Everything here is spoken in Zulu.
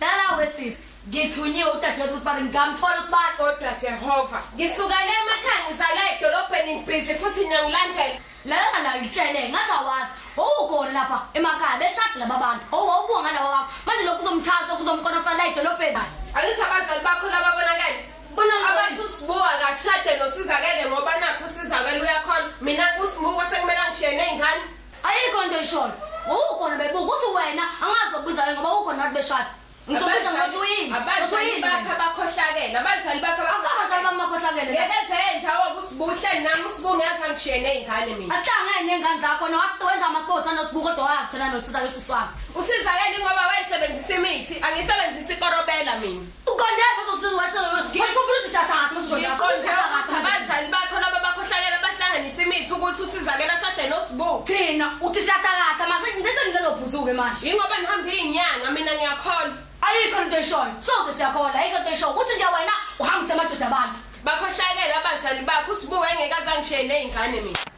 Dala wesisi ngithunyiwe udadewethu usibani ngamthola usibani kodwa Jehova ngisukele emakhaya ngizala edolobheni ngibhizi futhi ngiyangilandela lana la ngitshele ngathi awazi owukona lapha emakhaya beshadi laba bantu owawubuka ngalawa wakho manje lokhu kuzomthatha kuzomkonofala la edolobheni angithi abazali bakho lababonakele bona abathi usibuka kashade nosizakele ngoba nakho usizakele uyakhona mina kusibuko sekumele angishiye ney'ngane Ayikho into ishoyo. Ngokugona bebuka ukuthi wena angazi ukubiza wena ngoba ukhona abantu beshada. Ngizobiza ngathi uyini. Abazali bakhe abakhohlakele. Abazali bakhe abakhohlakele. Abazali bakhohlakele. Ngebezenza wokusibuhle nami usibuke ngathi angishiye nezingane mina. Ahlangene nezingane zakho nowathi wenza ama sports anosibuko kodwa wazithela nosizakele usisi wami. Usizakele ngoba wayesebenzisa imithi, angisebenzisi ikorobela mina. Uqonde lapho kusuke wathi wathi umuntu usathatha usuzothi Ngiqonde ukuthi abazali bakho laba bakhohlakele abahlanganisa imithi ukuthi usizakele ashade noSbu. thina uthi siyathakatha mase ngithethe ngilelo bhuzuke manje Yingoba ngihambe izinyanga mina ngiyakholwa. ayikho into eshoyo sonke siyakhola ayikho into eshoyo ukuthi nje wena uhambise amadoda abantu Bakhohlakele abazali bakho uSbu engeke azangishiye nezingane mina.